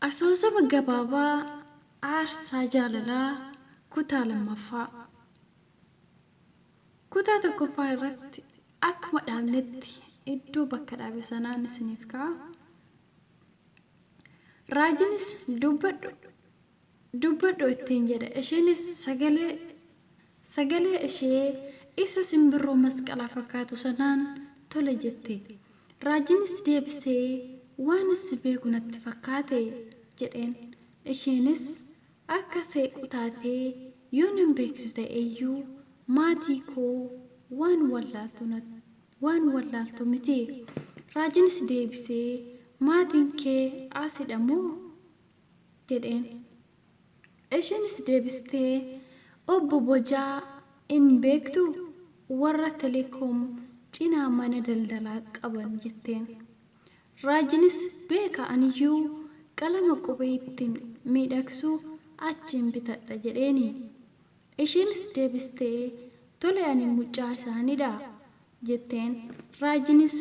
Asoosama gabaabaa aarsaa jaalalaa kutaa lammaffaa. Kutaa tokkoffaa irratti akkuma dhaabnetti iddoo bakka dhaabe sanaan isiniif ka'a. Raajinis, Dubbadhu! Dubbadhu! ittiin jedhe. Isheenis sagalee sagalee ishee isa simbirroo masqalaa fakkaatu sanaan tole jette. Raajinis deebisee, Waanan si beeku natti fakkaate! jedheen. Isheenis, Akka seequu taatee yoo nan beeksisu ta'e iyyuu maatii koo waan wallaaltu natti. Waan wallaaltu miti. Raajinis deebisee, Maatiin kee Aasidha moo? jedheen. Isheenis deebistee, Obbo Bojaa in beektuu? Warra Telekoom cinaa mana daldalaa qaban jetteen. Raajinis, Beeka aniyyuu qalama qubee ittiin miidhagsu achiin bitadha jedheeni. Isheenis deebistee, Tole ani mucaa isaanii dha jetteen. Raajiinis,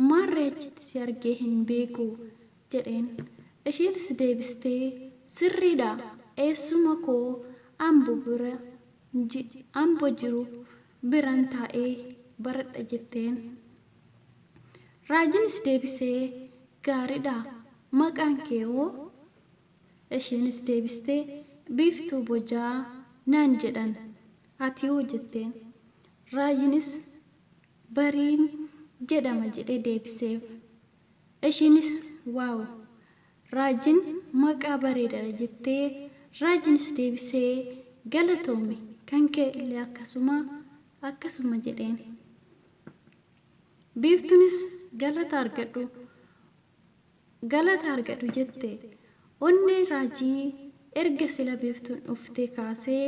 Maarree achitti si argee hin beeku jedheen. Isheenis deebistee, Sirrii dha, eessuma koo Ambo bira ji, Ambo jiru biran taa'ee baradha jetteen. Raajiinis deebisee, Gaarii dha, maqaan kee hoo? Isheenis deebistee, Biiftuu bojaa naan jedhan. Atihoo? jetteen. Raayyinis, Bariin jedhama jedhee deebiseef. Isheenis, Waaw! Raajin maqaa bareedadha jettee Raajinis deebisee, Galatoomi, kan kee illee akkasuma, akkasuma jedheen. Biiftunis, Galata argadhu. Galata argadhu jette. Onneen Raajii erga sila Biiftuun dhuftee kaasee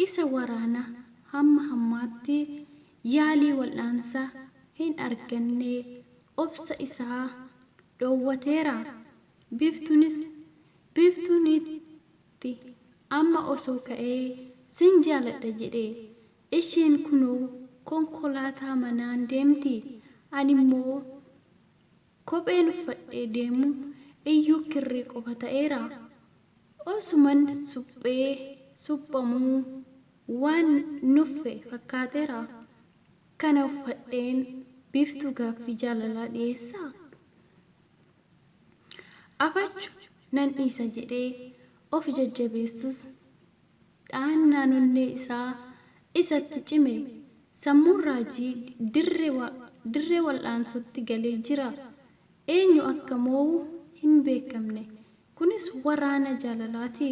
isa waraana hamma hammaatti yaalii wal'aansa hin arganne obsa isaa dhoowwateera. Biiftuunis Biiftuun itti amma osoo ka'ee sin jaaladha jedhe. Isheen kunoo konkolaataa manaan deemti. Animmoo. Kopheen uffadhee deemu iyyuu kirrii qofa ta'eera. Osuman suphee suphamuu waan nuffe fakkaateera. Kana uffadheen Biiftuu gaaffii jaalalaa dhiyeessaa? Afachu nan dhiisa jedhee of jajjabeessus dha'annaan onnee isaa isatti cime, sammuun raajii dirree wal'aansootti galee jira. Eenyu akka moo'u hin beekamne. Kunis waraana jaalalaati.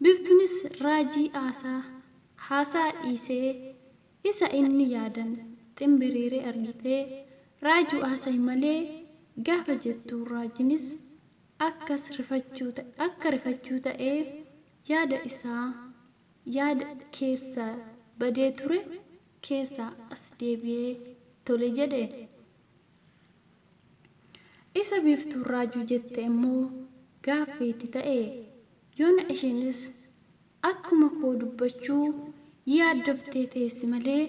Biiftunis raajii haasaa dhiisee isa inni yaadan ximbiriire argitee raajuu haasa'i malee gaafa jettu raajinis akka rifachuu ta'ee Yaada isaa yaada keessa badee ture keessaa as deebi'ee tole jedhe. Isa Biiftuun raajuu jette immoo gaaffii itti ta'e. Yoona isheenis akkuma koo dubbachuu yaaddoftee teessi malee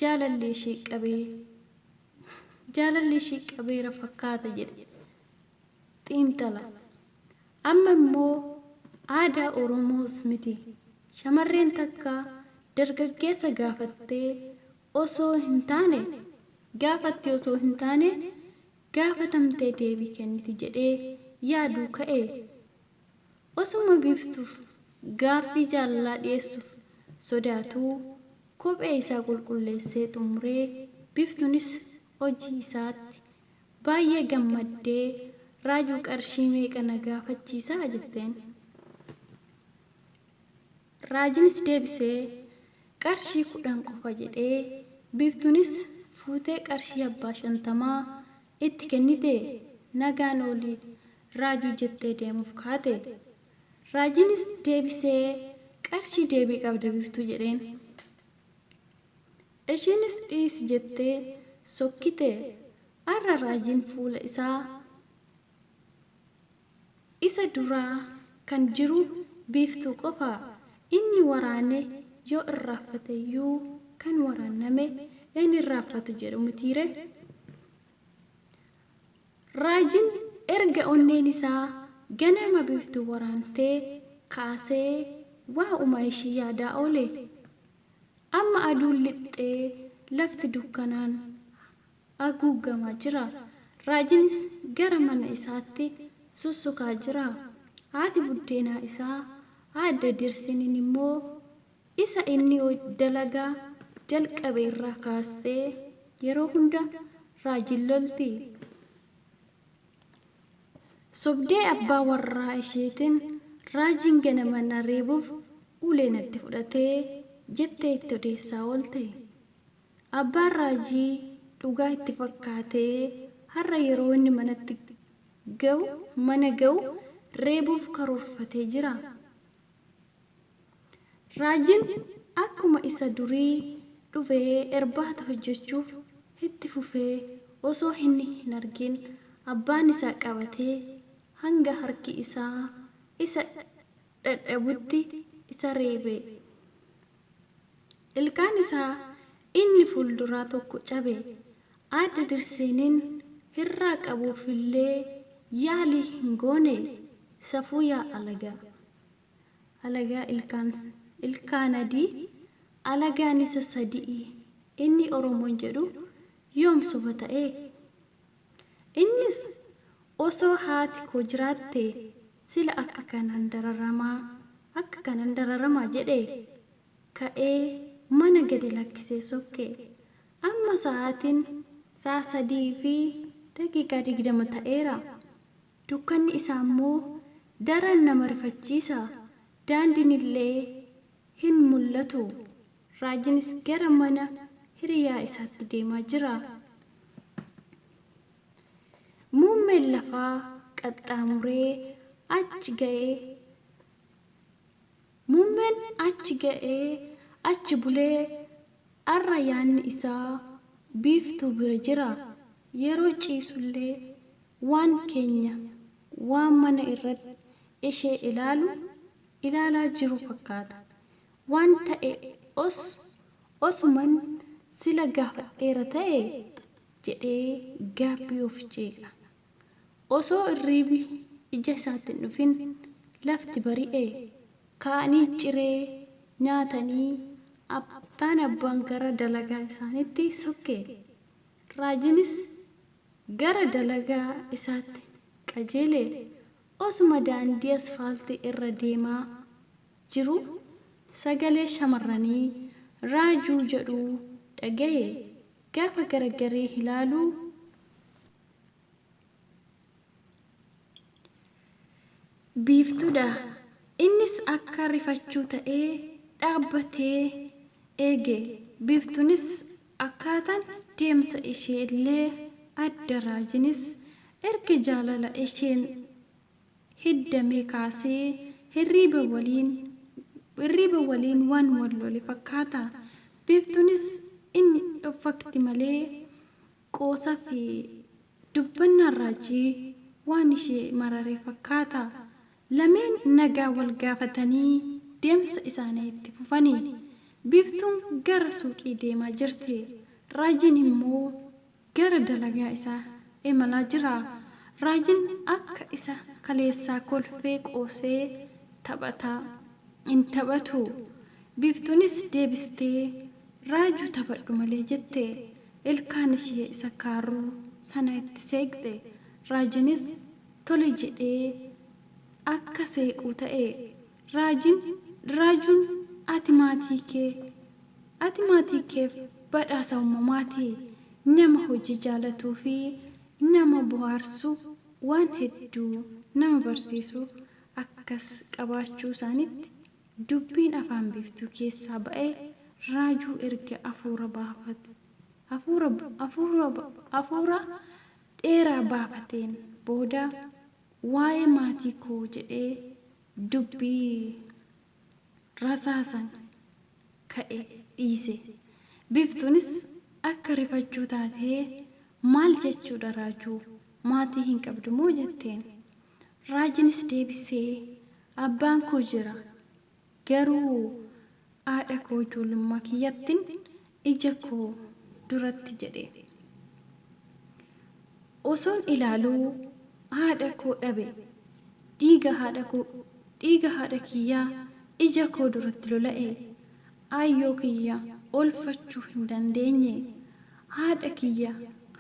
jaalalli ishii qabe jaalalli ishii qabeera fakkaata jedhe xiinxala. Amma immoo aadaa Oromoos miti shamarreen takka dargaggeessa gaafattee osoo hin taane gaafatti osoo hin taane gaafatamtee deebii kenniti jedhee yaaduu ka'e. Osuma Biiftuuf gaaffii jaalalaa dhiyeessuuf sodaatuu kophee isaa qulqulleessee xumuree Biiftuunis hojii isaatti Baay'ee gammaddee, Raajuu qarshii meeqa na gaafachiisa? jetteen. Raajinis deebisee, Qarshii kudhan qofa jedhee, Biiftuunis fuutee qarshii abbaa shantamaa itti kennitee, Nagaan ooli Raajuu jettee deemuuf kaate. Raajinis deebisee, Qarshii deebii qabda Biiftuu jedheen. Ishiinis dhiisi jettee sokkite. Arra raajiin fuula isaa isa duraa kan jiru Biiftuu qofa. Inni waraane yoo irraaffateyyuu kan waraanname hin irraaffatu jedhu mitiire. Raajiin erga onneen isaa ganama Biiftuu waraantee kaasee waa'uma ishii yaadaa oole. Amma aduun lixxee lafti dukkanaan aguuggamaa jira. Raajinis gara mana isaatti sussukaa jira. Haati buddeenaa isaa Aadde Dirsinin immoo isa inni dalagaa jalqabe irraa kaastee yeroo hunda Raajiin lolti. Sobdee abbaa warraa isheetin Raajiin ganama na reebuuf ulee natti fudhate jettee itti odeessaa oolte. Abbaan Raajii dhugaa itti fakkaatee har'a yeroo inni manatti gahu mana gahu reebuuf karoorfatee jira. Raajiin akkuma isa durii dhufee erbaata hojjechuuf itti fufee osoo hinni hin argin abbaan isaa qabatee hanga harki isaa isa dhadhabutti isa reebee. Ilkaan isaa inni fuulduraa tokko cabe. Aadde Dirseeniin hirraa qabuufillee yaalii hin goone. Safuu yaa alagaa! Alagaa ilkaan ilkaan adii alagaan isa sadi'i inni Oromoon jedhu yoom soba ta'ee? Innis osoo haati koo jiraatte sila akka kanaan dararamaa akka kanan dararamaa jedhee ka'ee mana gadi lakkisee sokke. Amma sa'aatiin sa'a 3:20 ta'eera. dukkanni isaa immoo daran nama rifachiisa, daandiin illee hin mul'atu, raajinis gara mana hiriyaa isaatti deemaa jira. Muummeen lafaa qaxxaamuree achi ga'e. Muummeen achi ga'ee achi bulee arra yaanni isaa Biiftuu bira jira. Yeroo ciisullee waan keenya waan mana irratti ishee ilaalu ilaalaa jiru fakkaata. Waan ta'e os osuman sila gaafadheera ta'e? jedhee gaabbii of jeeqa. Osoo irriibi ija isaatti hin dhufin lafti bari'e. Ka'anii ciree nyaatanii abbaan abbaan gara dalagaa isaaniitti sokke. Raajiinis gara dalagaa isaatti qajeele. Osuma daandii asfaaltii irra deemaa jiru sagalee shamarranii Raajuu jedhu dhagahe. Gaafa garagaree ilaalu. Biiftuu dha. Innis akka rifachuu ta'ee dhaabbatee eege. Biiftuunis akkaataan deemsa ishee illee adda Raajinis erga jaalala isheen hiddamee kaasee hirriiba waliin hirriiba waliin waan wal lole fakkaata. Biiftuunis inni dhoffakti malee Qoosa fi dubbannaan Raajii waan ishee marare fakkaata. Lameen nagaa wal gaafatanii deemsa isaanii itti fufani. Biiftuun gara suuqii deemaa jirti. Raajiin immoo gara dalagaa isaa imalaa jira. Raajiin akka isa kaleessaa kolfee qoosee taphata. Hin taphatu. Biiftuunis deebistee Raajuu taphadhu malee jette. Ilkaan ishee isa kaarruu sana itti seeqxe. Raajinis tole jedhee akka seequu ta'e. Raajiin, Raajuun ati maatii kee, ati maatii keef badhaasa uumamaati. Nama hojii jaalatuu fi nama bohaarsu waan hedduu nama barsiisu akkas qabaachuu isaaniitti Dubbiin afaan biiftuu keessaa ba'e raajuu erga afuura baafate afuura afuura afuura dheeraa baafateen booda waa'ee maatii koo jedhee dubbii rasaasan ka'e dhiise. Biiftuunis akka rifachuu taatee maal jechuudha raajuu maatii hin qabdumoo jetteen. Raajinis deebisee, Abbaan koo jira, garuu aadha koo ijoollummaa kiyyattin ija koo duratti jedhe. Osoon ilaaluu haadha koo dhabe, dhiiga haadha koo, dhiiga haadha kiyyaa ija koo duratti lola'e, Aayyoo kiyya oolfachuu hin dandeenye. Haadha kiyya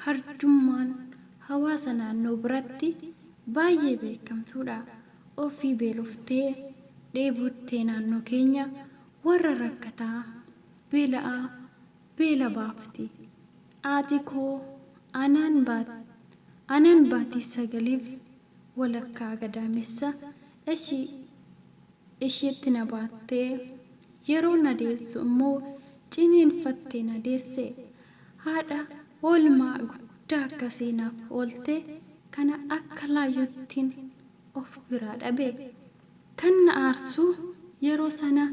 hardummaan hawaasa naannoo biratti baayyee beekamtuudha. Ofii beeloftee, dheebottee naannoo keenya warra rakkataa, beela'aa beela baafti. Haati koo anaan baat anaan baatii sagaliif walakkaa gadaamessa. Eshi. ishiitti na baattee yeroo na deessu immoo ciniinfattee na deesse. Haadha oolmaa guddaa akkasii naaf oolte kana akka laayyottin of biraa dhabe. Kan na aarsu yeroo sana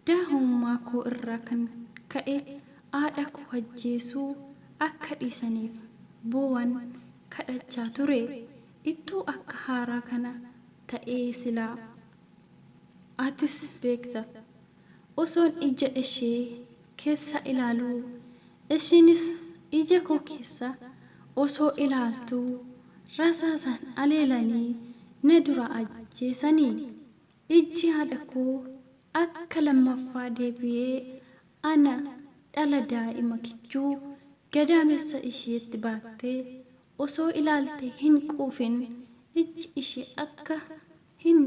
daahummaa koo irraa kan ka'e haadha koo ajjeesuu akka dhiisaniif boowan kadhachaa ture. Ittuu akka haaraa kana ta'ee silaa atis beekta osoon ijja eshee kessa ilaaluu eshiinis ija koo kessa osoo ilaaltuu rasaasaan aleelanii na duraa ajjeesanii ijji haadha koo akka lammaffaa deebi'ee ana dhala daa'ima kichuu gadaamessa isheetti baattee osoo ilaalte hin quufin ijji ishee akka hin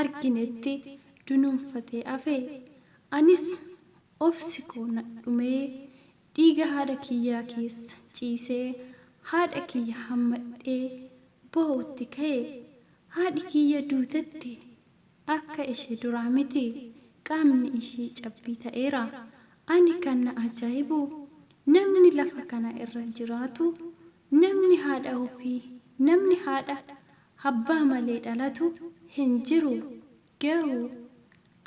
arginetti dunuunfatee hafe. Anis obsi koo na dhumee dhiiga haadha kiyyaa keessa ciisee haadha kiyya hammadhee boo'utti ka'e. Haadhi kiyya duutetti. Akka ishee duraa miti. Qaamni ishii cabbii ta'eera. Ani kan na ajaa'ibu namni lafa kana irra jiraatu, namni haadha ofii, namni haadha, abbaa malee dhalatu hin jiru. Garuu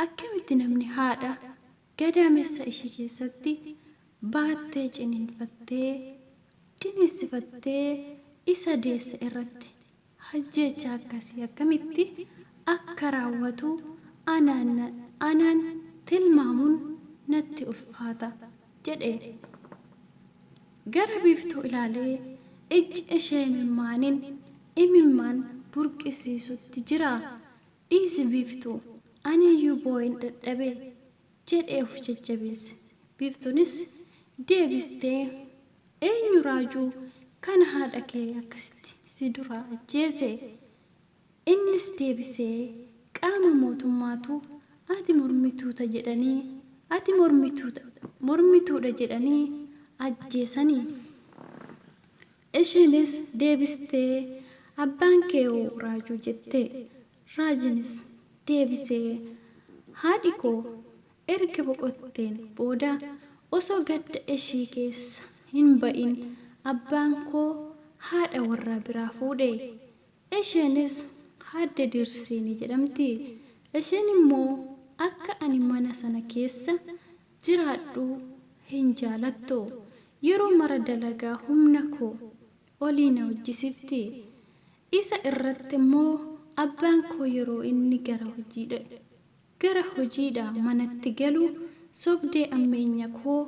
akkamitti namni haadha gadaamessa ishii keessatti baattee ciniinfattee, ciniinsifattee isa deesse irratti hajjeechaa akkasii akkamitti akka raawwatu anaan anaan tilmaamuun natti ulfaata jedhe. Gara Biiftuu ilaalee ijji ishee imimmaaniin imimmaan burqisiisutti jira. Dhiisi Biiftuu, aniyyuu boo'een dadhabe. jedhee of jajjabeesse. Biiftuunis deebistee, Eenyu raajuu kan haadha kee akkasitti si duraa ajjeese? Innis deebisee, Qaama mootummaatu ati mormituuta jedhanii, ati mormituudha jedhanii ajjeesani. Ishiinis deebistee, Abbaan kee hoo raajuu jette? Raajinis deebisee, Haadhi koo erga boqotteen booda osoo gadda ishii keessa hin ba'in abbaan koo haadha warraa biraa fuudhe. Isheenis Aadde Diirseenii jedhamti. Isheen immoo akka ani mana sana keessa jiraadhu hin jaalattu yeroo mara dalagaa humna koo olii na hojjisifti isa irratti immoo abbaan koo yeroo inni gara hojiidha gara hojiidha manatti galu sobdee ammeenya koo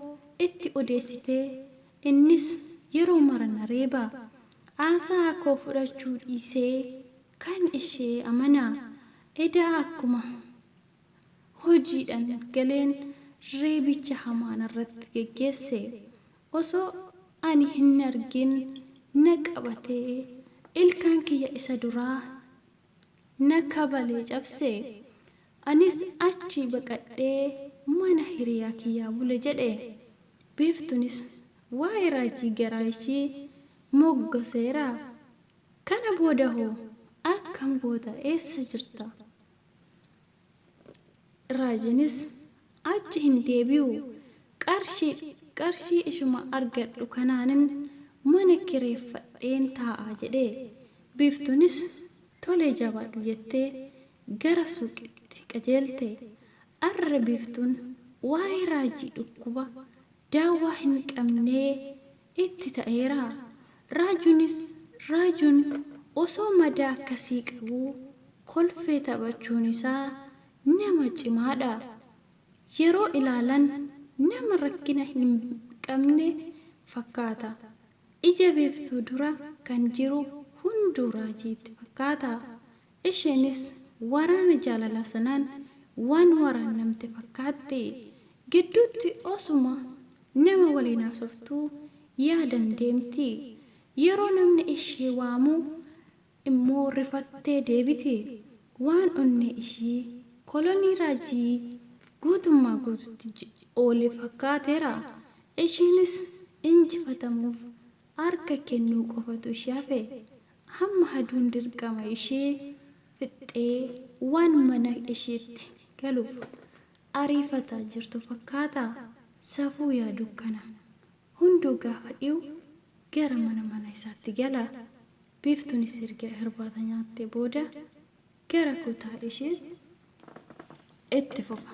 itti odeessitee innis yeroo mara na reeba aasaha koo fudhachuu dhiisee kan ishee amana edaa akkuma hojiidhan galeen reebicha hamaa narratti geggeesse. Osoo ani hin argin na qabatee ilkaan kiyya isa duraa na kabalee cabse. Anis achii baqadhee mana hiriyaa kiyyaa bule jedhe. Biiftunis waa'ee raajii garaa ishii moggaseera. Kana booda hoo akkam goota eessa jirta? Raajiinis achi hin deebi'u. Qarshii qarshii ishuma argadhu kanaanin mana kireeffadheen taa'a jedhe. Biiftuunis tole jabaadhu jettee gara suuqitti qajeelte. Arra Biiftuun waa'ee Raajii dhukkuba daawwaa hin qabnee itti ta'eera. Raajuunis Raajuun osoo madaa akkasii qabuu kolfee taphachuun isaa nama cimaa dha. Yeroo ilaalan nama rakkina hin qabne fakkaata. Ija biiftuu dura kan jiru hunduu Raajii itti fakkaata. Isheenis waraana jaalalaa sanaan waan waraannamte fakkaatti. Gidduutti osuma nama waliin haasoftuu yaadan deemti. Yeroo namni ishee waamu immoo rifattee deebiti. Waan onnee ishii kolonii raajii guutummaa guututti oole fakkaateera. Isheenis injifatamuuf harka kennuu qofatu ishee hafe. Hamma aduun dirqama ishee fixxee waan mana isheetti galuuf ariifataa jirtu fakkaata. Safuu yaa dukkana! Hunduu gaafa dhiyu gara mana mana isaatti gala. Biiftunis erga irbaata nyaattee booda gara kutaa isheetti itti fufa.